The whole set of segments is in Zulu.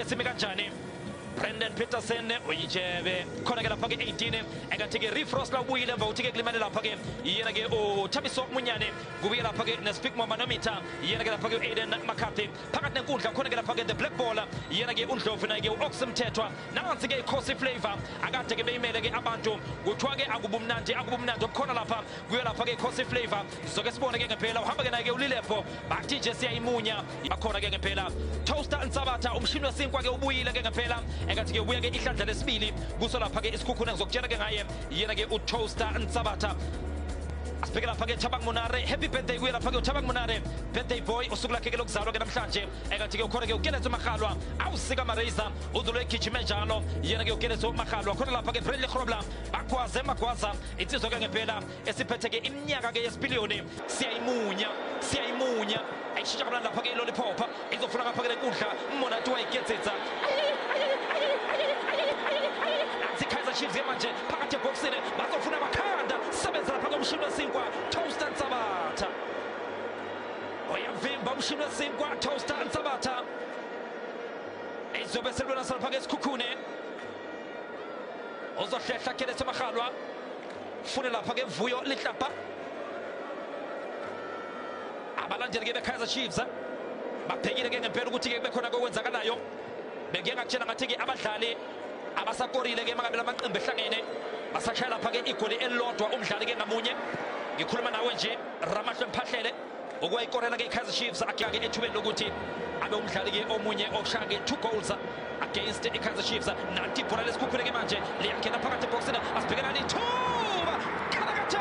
simi kanjani brandon peterson uyitshebe khona-ke lapha-ke 18 engathi-ke refrost la ubuyile emva kokuthi-ke kulimele lapha-ke yena-ke uthabiso munyane kubuye lapha-ke nespeak momanometer yena-ke lapha-ke u-aiden mccarthy phakathi nenkundla khona-ke lapha-ke the black ball yena-ke undlovu naye-ke u-ox mthethwa nansi-ke ikhosi flavor akade-ke beyimele-ke abantu kuthiwa-ke akubumnandi akubumnandi okukhona lapha kuyo lapha-ke ikhosi flavor sizoke sibone ke ngempela uhamba ke naye ke ulilevo bathi nje siyayimunya bakhona ke ngempela toaster nsabatha umshini wesinkwa ke ubuyile ke ngempela engathi ke ubuya ke ihlandla lesibili kuso lapha ke isikhukhune ngizokutshela ke ngaye yena ke utoaster nsabatha asibheke lapha ke Thabang Monare happy birthday kuye lapha ke uThabang Monare birthday boy usuku lakhe ke lokuzalwa ke namhlanje engathi ke ukhona ke uKenneth Magalwa awusika Mareza udlule egijime njalo yena ke uKenneth Magalwa khona lapha ke Bradley Grobler bagwaze magwaza insizwa ke ngempela esiphetheke iminyaka ke yesipiliyoni siyayimunya siyayimunya ayishintsha kamnandi lapha ke iloliphopa izofuna ngapha ke lenkundla umonati wayigedzedza nansi ikaizer chiefs ke manje phakathi ebhokisini bazofuna amakhanda sebenza lapha komshini wesinkwa toast and sabatha oyavimba umshini wesinkwa toast and sabatha izobe selwela salapha ke esikhukhune ozohlehla keleso mahalwa fune lapha ke vuyo lihlapha abalandeli ke bekaizer chiefs eh? babhekile ke ngempela ukuthi ke bekhona kokwenzakalayo bengike ngakutshela ngathi ke abadlali abasakorile ke mangabe lamaqembu ehlangene basashaya lapha ke igoli elilodwa umdlali ke ngamunye ngikhuluma nawe nje ramahle mphahlele okuwayikorela ke ikaizer chiefs akhake ethubeni lokuthi abe umdlali ke omunye oshaya ke two goals against ikaizer chiefs nanti ibhola lesikhukhule ke manje liyangena phakathi ebhoksini asibhekelani ithuba kalakathe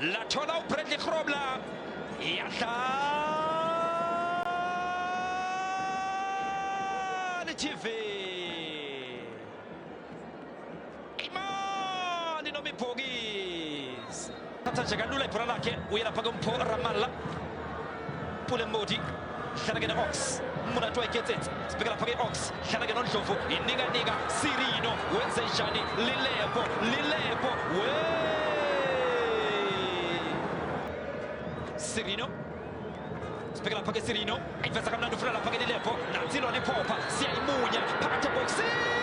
Lathola uBradley Grobla. Iyadlala TV. Imani nomibhokisi. Thatha nje kalula ibhola lakhe uyela phaka umpho Ramalla. Pule Modi. Hlanagen Ox umuntu wayekhethethe sibheka lapha ke-ox hlala-ke nondlovu inikanika sirino wenze njani lilepo lilepo we sirino sibheka lapha ke sirino ayiveza kamnandi ufuna lapha ke lilepo nansi lona iphopha siyayimunya phakathi ebhokisini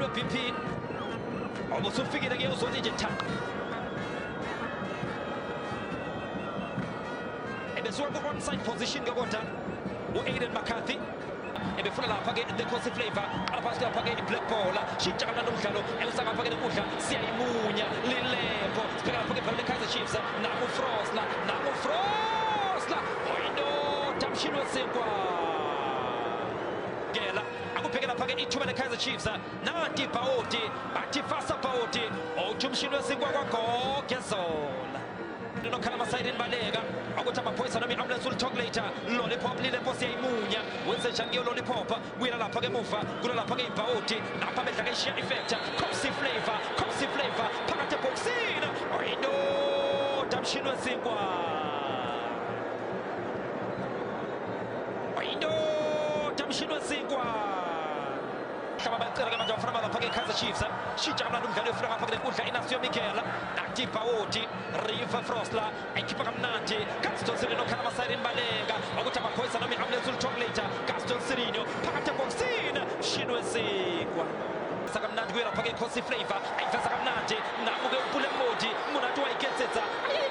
BP obusufika ke uzonje nje cha ebesuka ku onside position ke kodwa u-aiden mccarthy ebefuna lapha ke the cosi flavor aphasi lapha ke i-black ball shintsha kamnandi umdlalo elisangapha ke nokudla siyayimunya lilepo sibheka lapha ke bhala le-kaizer chiefs nakufrosla nakufrosla oyindoda mshini wesikwa akubheke lapha-ke ithuba le-kaizer chiefs nanti ibhawoti bathi fasa bhawoti othi umshini wesinkwa kwagoge zola nokhala amasayidini baleka ukuthi amaphoyisa noma i-ambulance ulithokulate lollipop lile mposi yayimunya wenze njani kuyo lollipop kuyela lapha ke muva kula lapha ke ibhawoti lapha bedla ke ishiya ifektha copsy flavor copsy flavor phakathi ebhokisini oyindoda mshini wesinkwa indoda mshini wesinkwa hlaba bacela ke manje abafana bazafaka ikaizer chiefs shintsha kamnandi umdlali wefuna ngapha kule nkundla inasio michael nati bawoti riva frosla ekhipha kamnandi castle sirino khala amasayiri imbaleka ukuthi amaphoyisa noma i-ambulance ulithola later castle sirino phakathi ebhokisini mshini wesikwa sakamnandi kuyelapha ke khosi flavor ayiveza kamnandi namuke upule modi munati wayiketsetsa ayi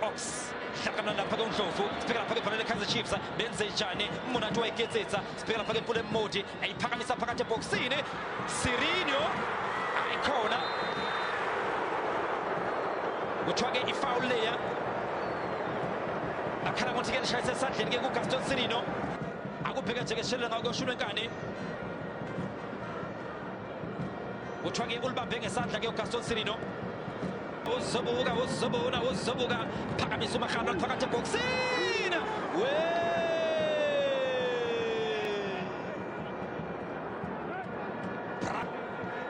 box hlakana lapha ke undlovu sibheka lapha ke ibholela kaizer chiefs benze njani umonati wayiketsetsa sibheka lapha ke mpula emmodi ayiphakamisa phakathi ebhokisini sirinio ayikhona kuthiwa ke ifawul leya akhala ngokuthi ke lishayise esandleni ke kugaston sirino akubheke nje ke sishelele ngako kuyosho ulwenkani kuthiwa ngeke ulibambe ngesandla ke ugaston sirino uzobuka uzobona uzobuka phakamisa umarhano phakathi ebhokisini we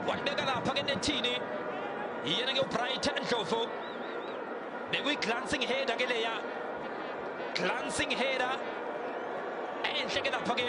walibeka lapha ke nethini yena ke ubrighton ndlovu bekuyi-glancing header ke leya glancing header enhle ke lapha ke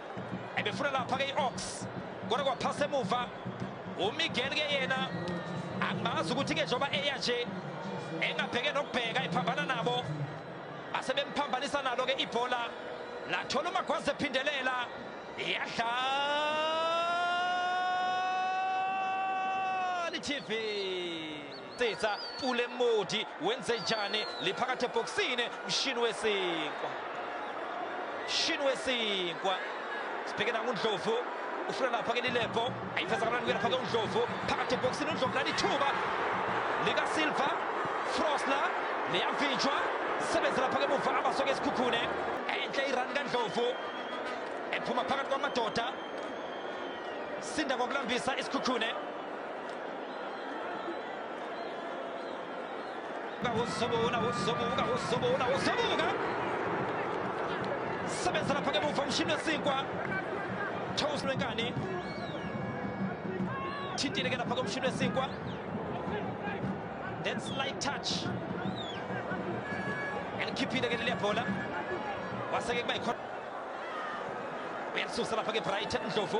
ebefuna lapha ke i-ox kodwa kwaphasa emuva umiguel ke yena angimazi ukuthi ke njengoba eya nje engabheke nokubheka ephambana nabo asebemphambanisa nalo ke ibhola lathola umagwazi ephindelela yadlala itv Titsa Pule Modi wenze njani liphakathi ebhokisini mshini wesinkwa mshini wesinkwa sibheke nangundlovu ufuna lapha ke lilebho ayifeza kamnandi kuya lapha ke undlovu phakathi ebhokisini undlovu nalithuba likasilva frosler liyavinjwa sebenza lapha ke muva abasoke esikhukhune enhle irani kandlovu ephuma phakathi kwamadoda sinda ngokulambisa isikhukhune sebenzela phake muva umshini wesinkwa charles lwenkani thintile ke lapha komshini wesinkwa then slight touch elikhiphile ke leliya bhola waseke kuba yikhona uyalisusa lapha ke brighton ndlovu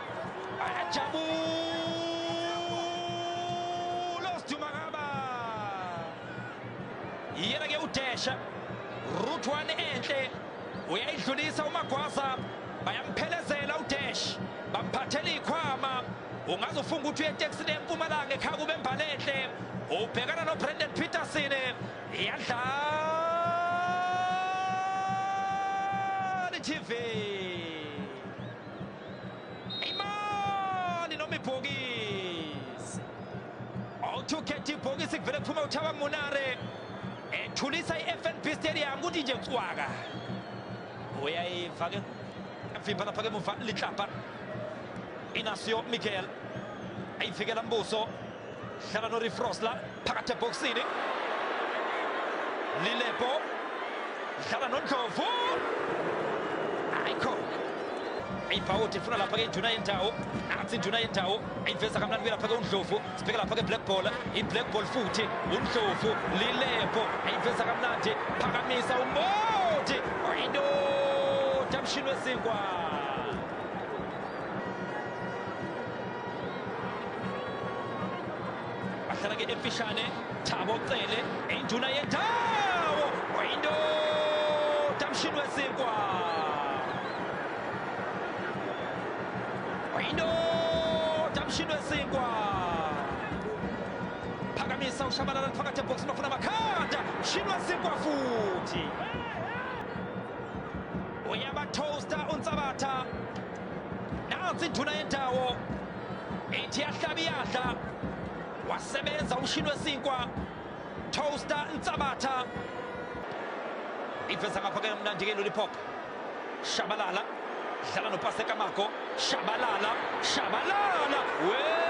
Jabulos Dumagaba yena ke udesha root one enhle uyayidlulisa umagwaza bayamphelezela udash bamphathela ikhwama ungaze ufunga ukuthi uyeteksini empumalanga ekhaya kube mbalenhle ubhekana nobrandon peterson yadlala itv imali noma ibhokisi awuthi ukhetha ibhokisi kuvele kuphume uthaba munare ethulisa i-fnb stadium kuthi nje cwaka uyayiva ke vimba lapha ke muva litlapa inasio miguel ayivikela mbuso dlala norifrosla phakathi ebhokisini lilebo dlala nondlovu ayikho ibhawuthi ifuna lapha ke ijuna yendawo athi ijuna yendawo ayiveza kamnandi kuye lapha ke undlovu sibheke lapha ke black ball i-black ball futhi undlovu lilebo ayiveza kamnandi phakamisa umoti oyindoda mshini wesinkwa bahlala ke emfishane thabo cele induna yendawo oyindoda mshini wesinkwa oyindoda mshini wesinkwa phakamisa ushabalala phakathi ebhokisini ofuna amakhanda mshini wesinkwa futhi uyabathosta unsabatha nansi induna yendawo ithi yahlaba iyadla wasebenza umshini wesinkwa toaster nsabatha iveza ngapha ke mnandi ke lollipop shabalala dlala nopaseka mako shabalala shabalala wee